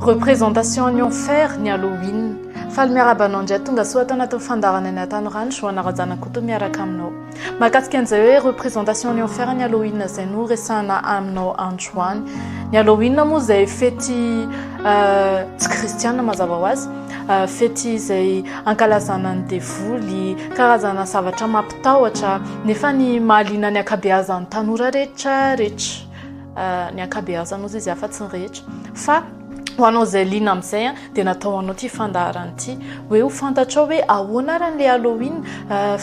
Représentation an'i Enfer ny Halloween. Faly miarahaba anao indray tonga soa ato anatin'ny fandaharana ny Atanoranjo, Joana Razanakoto miaraka aminao. Mahakasika an'izay hoe représentation an'i Enfer ny Halloween izay no resahana aminao androany. Ny Halloween moa izay fety euh, tsy kristiana mazava ho azy, euh, fety izay ankalazana ny devoly, karazana zavatra mampitahotra, nefa ny mahaliana ny ankabeazan'ny tanora rehetra rehetra. ny ankabeazany ozy izy afa-tsy ny rehetra fa ho anao izay liana amin'izay a dia natao ho anao ity fandaharana ity hoe ho fantatrao hoe ahoana ary an'ilay Halloween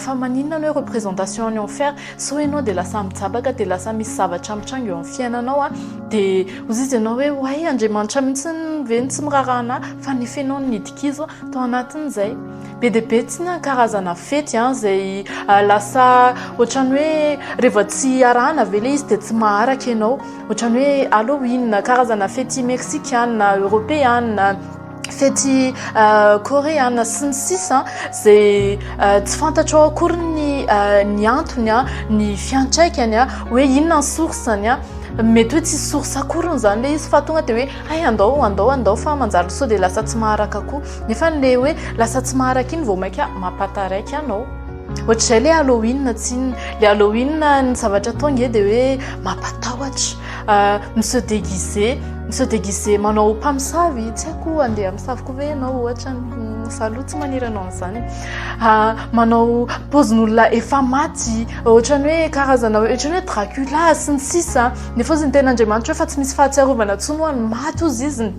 fa maninona anao hoe représentation any enfer sao ianao dia lasa mijabaka dia lasa misy zavatra mitranga eo amin'ny fiainanao a dia ozy izy ianao hoe hoay Andriamanitra mihitsy ve ny tsy miraharaha anah fa nefenao ny nidik'izy toa anatin'izay be dia be tsy na karazana fety an izay lasa ohatrany hoe rehefa tsy arahana ve le izy dia tsy maharaka ianao ohatrany hoe halloween karazana fety meksikana eoropeana fety koreana sy ny sisa izay tsy fantatro ao akory ny ny antony an ny fiantraikany an hoe inona ny sorsany an mety hoe tsy source akoriny izany le izy fa tonga dia hoe hay andao andao andao fa manjary sao dia lasa tsy maharaka koa Nefa le hoe lasa tsy maharaka iny vao mainka mampataraiky anao. Ohatr'izay le Halloween tsinona. Le Halloween ny zavatra atao nge dia hoe mampatahotra. Euh, mi-se déguiser, mi-se déguiser manao mpamosavy, tsy haiko andeha hamosavy koa ve ianao ohatra ny hmm, zaloha tsy maniry anao an'izany. Euh, manao paozin'olona efa maty, ohatran'ny hoe karazana ohatran'ny hoe Dracula sy ny sisa. Nefa hozy ny tenin'Andriamanitra hoe fa tsy misy fahatsiarovana intsony ho an'ny maty hozy izy.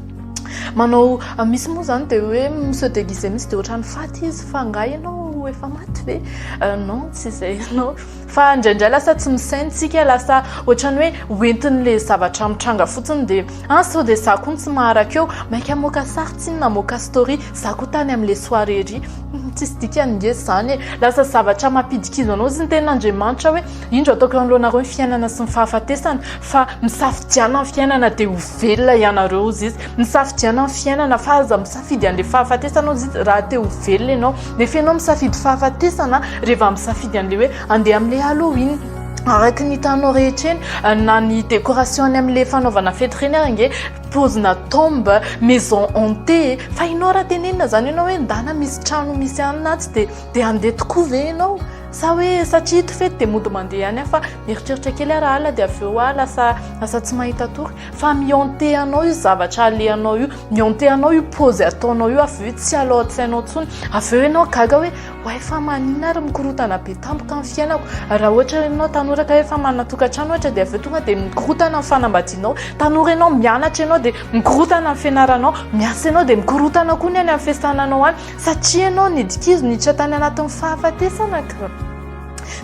Manao misy moa zany dia hoe se déguiser mihitsy dia ohatran'ny faty izy fa nga ianao efa maty ve euh, non tsy izay ianao fa indraindray lasa tsy misaintsika lasa ohatrany hoe hoentin'le zavatra mitranga fotsiny dia an ah, sao dia za koa tsy maharaka eo maika moka sary tsy na moka story za koa tany amin'le soirée ry hmm, tsisy dikany nge zany e lasa zavatra mampidikizo anao zany ten'andriamanitra hoe indro ataoko eo anoloanareo ny fiainana sy ny fahafatesana fa misafidiana ny fiainana dia ho Velona ianareo hozy izy. Misafidiana ny fiainana fa aza misafidy an'ilay fahafatesana hozy izy raha te ho velona ianao. Nefa ianao misafidy fahafatesana rehefa misafidy an'ilay hoe handeha amin'ilay Halloween. Araka ny hitanao rehetra eny na ny décoration any amin'ilay fanaovana fety ireny ary ange pozina tombe, maison hantée. Fa ianao raha tenenina izany ianao hoe ndana misy trano misy anona atsy dia dia handeha tokoa ve ianao? Sa hoe satria ito fety dia mody mandeha any aho fa mieritreritra kely aho raha alina dia avy eo aho lasa lasa tsy mahita tory fa mihantehanao io zavatra alehanao io mihantehanao io pose ataonao io avy eo tsy alao an-tsainao intsony avy eo ianao gaga hoe way fa manina ary mikorotana be tampoka ny fiainako raha ohatra ianao tanora ka efa manana tokantrano ohatra dia avy eo tonga dia mikorotana ny fanambadianao tanora ianao mianatra ianao dia mikorotana ny fianaranao miasa ianao dia mikorotana koa ny any amin'ny fiasananao any Satria ianao nidikizo niditra tany anatin'ny fahafatesana ka.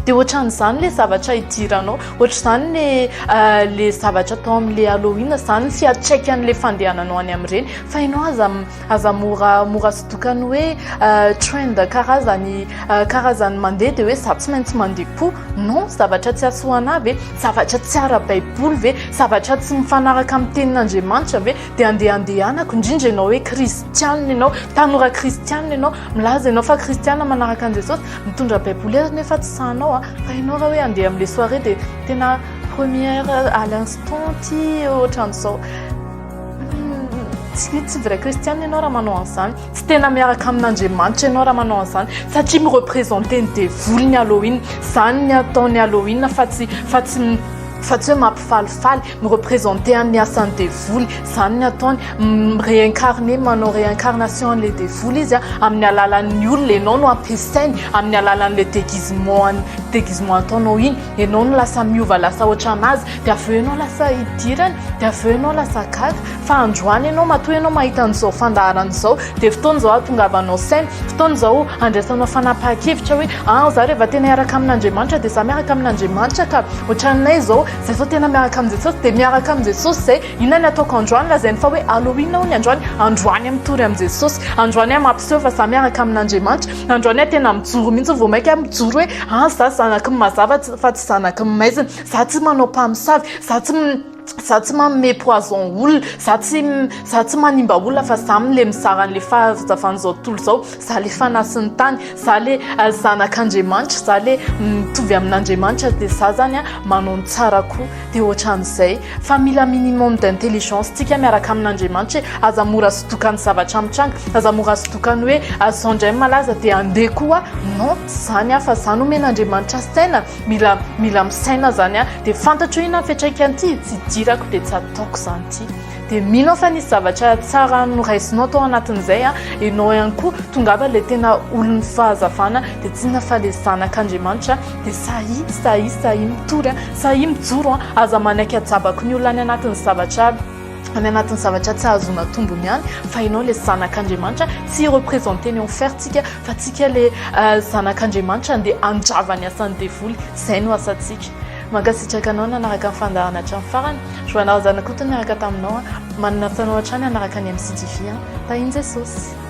Dia ohatran'izany ilay zavatra hidiranao, ohatr'izany le euh, le zavatra atao amin'ilay Halloween izany ny fiantraikan'ilay fandehananao any amin'ireny fa ianao aza aza mora mora sodokan'ny hoe euh, trend karazany euh, karazany mandeha dia hoe za tsy maintsy mandeha koa non zavatra tsy hasoanà ve zavatra tsy ara-baiboly ve zavatra tsy mifanaraka amin'ny tenin'Andriamanitra ve dia andeha andehanako indrindra ianao hoe kristianina ianao tanora kristianina ianao milaza ianao fa kristianina manaraka an'i jesosy mitondra baiboly ary nefa tsy sahanao a fa ianao raha hoe andeha amin'le soirée dia tena première à l'instant ty ohatran'izao tsy tsy vrai kristianina ianao raha manao an'izany tsy tena miaraka amin'andriamanitra ianao raha manao an'izany satria mirepresente ny devoly ny halloween izany ny ataon'ny halloween fa tsy fa tsy fa tsy hoe mampifalifaly mi-representer an'ny asan'ny devoly, izany ny ataony, mi-réincarner, manao réincarnation an'ilay devoly izy a, amin'ny alalan'ny olona, ianao no ampiasainy, amin'ny alalan'ilay déguisement, déguisement ataonao iny, ianao no lasa miova lasa ohatran'azy, dia avy eo ianao lasa idirany, dia avy eo ianao lasa gaga, fa androany ianao matoa ianao mahita an'izao fandaharana izao, dia fotoana izao hahatongavanao saina, fotoana izao handraisanao fanapahan-kevitra hoe, an, izaho rehefa tena hiaraka amin'Andriamanitra dia izaho miaraka amin'Andriamanitra ka, ohatran'ny hoe izao, Jesosy tena miaraka amin'i Jesosy dia miaraka amin'i Jesosy izay. Inona ny ataoko androany? Lazainy fa hoe Halloween hono ny androany. Androany aho mitory amin'i Jesosy. Androany aho mampiseho fa izaho miaraka amin'Andriamanitra. Androany aho tena mijoro mihitsy vao mainka aho mijoro hoe an, izaho zanaky ny mazava fa tsy zanaky ny maizina. Izaho tsy manao mpamosavy. Izaho tsy izaho tsy manome poison olona. Izaho tsy izaho tsy manimba olona fa izaho mle mizara an'ilay fahazavan'izao tontolo izao. Za le fanasin'ny tany, za le zanak'Andriamanitra, za le mitovy amin'Andriamanitra dia za zany a manao ny tsarako dia ohatran'izay fa mila minimum d'intelligence tsika miaraka amin'Andriamanitra hoe aza mora sodoka ny zavatra mitranga, aza mora sodoka ny hoe zao indray malaza dia andeha koa non tsy zany a fa za nomen'Andriamanitra saina mila mila misaina zany a dia fantatro inona ny fiatraikany ity tsy idirako dia tsy ataoko zany ity. dia mino aho fa nisy zavatra tsara noraisinao tao anatin'izay a ianao ihany koa tongava ilay tena olon'ny fahazavana dia tsinona fa le zanak'andriamanitra dia sahi sahi sahi mitory a sahi mijoro a aza manaiky ajabako ny olona any anatin'ny zavatra aby any anatin'ny zavatra tsy hahazoana tombony ihany fa ianao le zanak'andriamanitra tsy représente ny enfertsika fa tsika le euh, zanak'andriamanitra andeha andrava ny asan'ny devoly izay no asantsika Mankasitraka anao nanaraka ny fandaharana hatramin'ny farany. Joana Razanakoto niaraka taminao an. Manana asa anao hatrany hanaraka ny MCTV an. Tahin'i Jesosy.